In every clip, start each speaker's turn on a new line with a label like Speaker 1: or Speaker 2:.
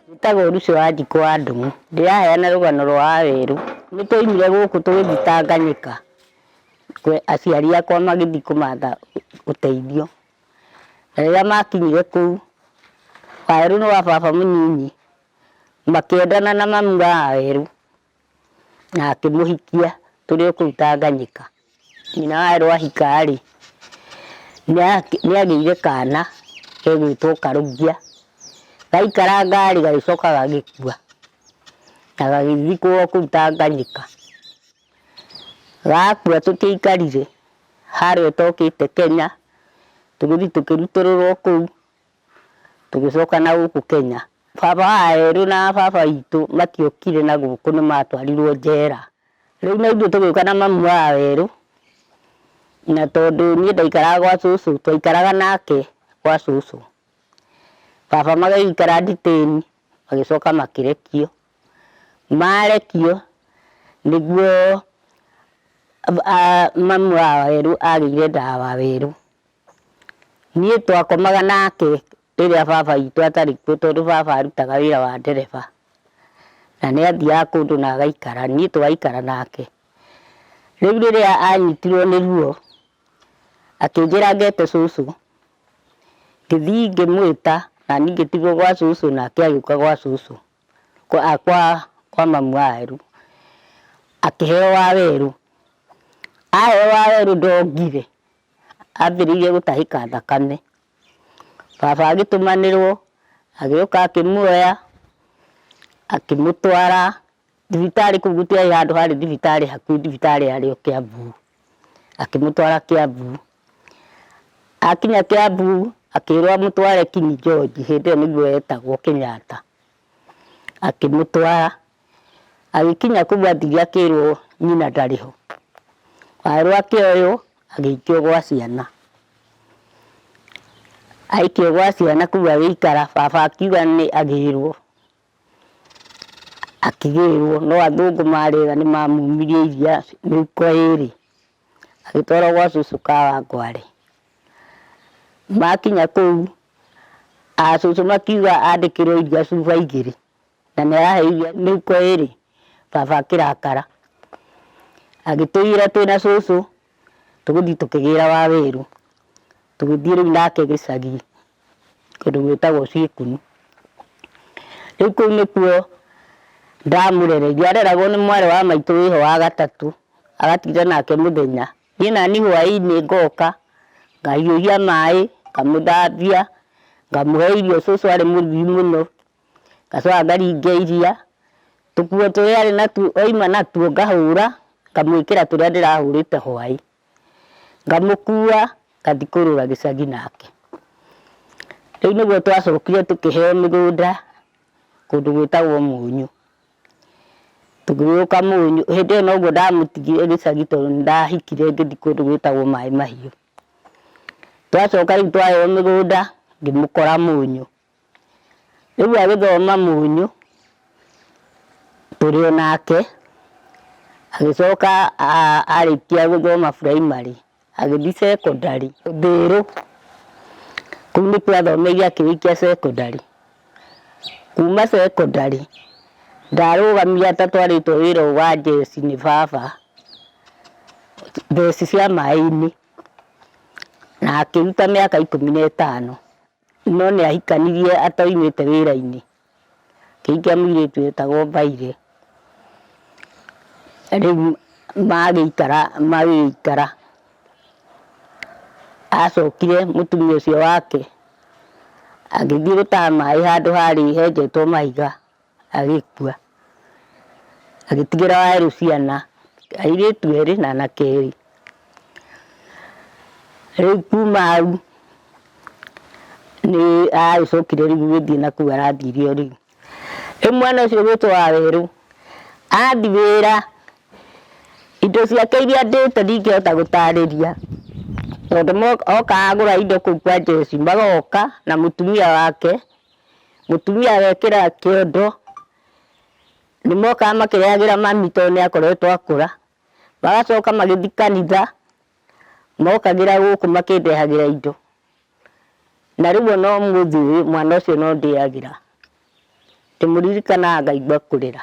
Speaker 1: Njĩtagwo Lucy wa Njikũ wa Ndũng'ũ. Ndĩraheana rũgano rwa Wawerũ. Nĩ twoimire gũkũ tũgĩthiĩ Tanganyika, kwe- aciari akwa magĩthiĩ kũmatha ũteithio. Na rĩrĩa makinyire kũu, Wawerũ nĩ wa baba mũnyinyi, makĩendana na mami wa Wawerũ. na akĩmũhikia tũrĩ o kũu Tanganyika. Nyina wa Erũ ahika-rĩ, nĩagĩire kana gegwĩtwo Karũngia, gaikaranga-rĩ gagĩcoka gagĩkua na gagĩthikwo kũu Tanganyika. Gakua tũtiaikarire harĩa ũtokĩte Kenya, tũgĩthiĩ tũkĩrutũrũrwo kũu. Tũgĩcoka na gũkũ Kenya, baba wa erũ na baba witũ matiokire na gũkũ nĩ matwarirwo njera. Rĩu na ithuĩ tũgĩũka na mamu wa erũ, na tondũ niĩ ndaikaraga gwa cũcũ, twaikaraga nake gwa cũcũ. Baba magĩikara Nditĩni, magĩcoka makĩrekio. Marekio, nĩguo mamu wa erũ agĩire nda wa werũ. Niĩ twakomaga nake rĩrĩa baba witũ atarĩ kuo tondũ baba arutaga wĩra wa ndereba. Na nĩ athiaga kũndũ na agaikara, niĩ tũgaikara nake. Rĩu rĩrĩa anyitirwo nĩ ruo, akĩnjĩra ngete cũcũ, ngĩthiĩ ngĩmwĩta na niĩ ngĩtigwo gwa cũcũ nake agĩũka gwa cũcũ, kwa mamu wa Waweru, akĩheo Waweru. Aheo Waweru ndongire, ambĩrĩirie gũtahĩka thakame. Baba agĩtũmanĩrwo, agĩũka akĩmuoya, akĩmũtwara thibitarĩ kũu gũtiarĩ handũ harĩ thibitarĩ hakuhĩ thibitarĩ yarĩ o Kĩambu. Akĩmũtwara Kĩambu. Akinya Kĩambu, akĩrwo amũtware King George, hĩndĩ ĩyo nĩguo yetagwo Kenyatta. Akĩmũtwara, agĩkinya kũu athiĩ akĩrwo nyina ndarĩ ho. Erwo akĩoywo agĩikio gwa ciana. Aikio gwa ciana kũu agĩikara, baba akiuga nĩ agĩrwo. Akĩgĩrwo no athũngũ marĩ ega nĩ mamumirie iria mĩhuko ĩrĩ. agĩtwarwo gwa cucu ka wangwarĩ makinya kũu a cucu makiuga andĩkĩrwo iria cuba igĩrĩ na nĩ arahe iria mĩhuko ĩrĩ baba akĩrakara agĩtũigĩra twĩna cucu tũgũthiĩ tũkĩgĩra wawĩru tũgĩthiĩ rĩu nake gĩcagi kũndũ gwĩtagwo Cikuni. Rĩu kũu nĩkuo ndamũrereire, areragwo nĩ mwarĩ wa maitũ wĩho wa gatatũ, agatinda nake mũthenya. Niĩ nani hwaĩ-inĩ ngoka, ngahiũhia maĩ, ngamũthambia, ngamũhe irio, cũcũ arĩ mũrugi mũno, ngacoka ngaringia iria, tũkuo tũrĩa arĩ natuo, oima natuo ngahũra, ngamwĩkĩra tũrĩa ndĩrahũrĩte hwaĩ. ngamũkua ngathiĩ kũrũra gĩcagi nake. Rĩu nĩguo twacokire tũkĩheo mĩgũnda kũndũ gwĩtagwo Mũnyũ. Tũgĩgĩũka Mũnyũ, hĩndĩ ĩyo noguo ndamũtigire gĩcagi tondũ nĩndahikire ngĩthiĩ kũndũ gwĩtagwo Maĩ Mahiũ. Twacoka rĩu twaheo mĩgũnda ngĩmũkora Mũnyũ. Rĩu agĩthoma mũnyũ tũrĩ o nake, agĩcoka arĩkia gũthoma primary agĩthiĩ secondary Ndhĩrũ, kũu nĩkuo athomeire akĩrĩkia secondary. Kuma secondary ndarũgamire ata twarĩtwo wĩra ũyũ wa njeci nĩ baba, njeci cia maĩ-inĩ, na akĩruta mĩaka ikũmi na ĩtano. No nĩ ahikanirie atoimĩte wĩra-inĩ. Akĩhikia mũirĩtu wĩtagwo Mbaire. Rĩu magĩikara magĩikara. Acokire mũtumia ũcio wake agĩthiĩ gũtaha maĩ handũ harĩ henjetwo mahiga agĩkua. Agĩtigĩra Wawerũ ciana, airĩtu erĩ na anake erĩ. Rĩu kuma hau nĩ agĩcokire rĩu gũthiĩ na kũu arathire o rĩu. Rĩu mwana ũcio ũgĩtwo Wawerũ athi wĩra, indo ciake iria andĩte ndingĩhota gũtarĩria tondũ okaga agũra indo kũu kwa Jessy, magoka na mũtumia wake Mũtumia agekĩra kĩondo, nĩ mokaga makĩrĩagĩra mami tondũ nĩ akoretwo akũra. Magacoka magĩthiĩ kanitha, mokagĩra gũkũ makĩndehagĩra indo. Na rĩu o na ũmũthĩ ũyũ mwana ũcio no ndĩagĩra. Ndĩmũririkanaga ngaigua kũrĩra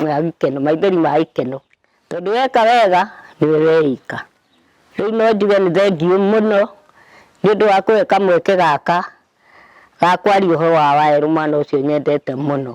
Speaker 1: ma gĩkeno, maithori ma gĩkeno. Tondũ weka wega nĩ we weĩka. Rĩu no njuge nĩ thengiũ mũno nĩ ũndũ wa kũhe kamweke gaka. gakwaria ũhoro wa waerũ mwana ũcio nyendete mũno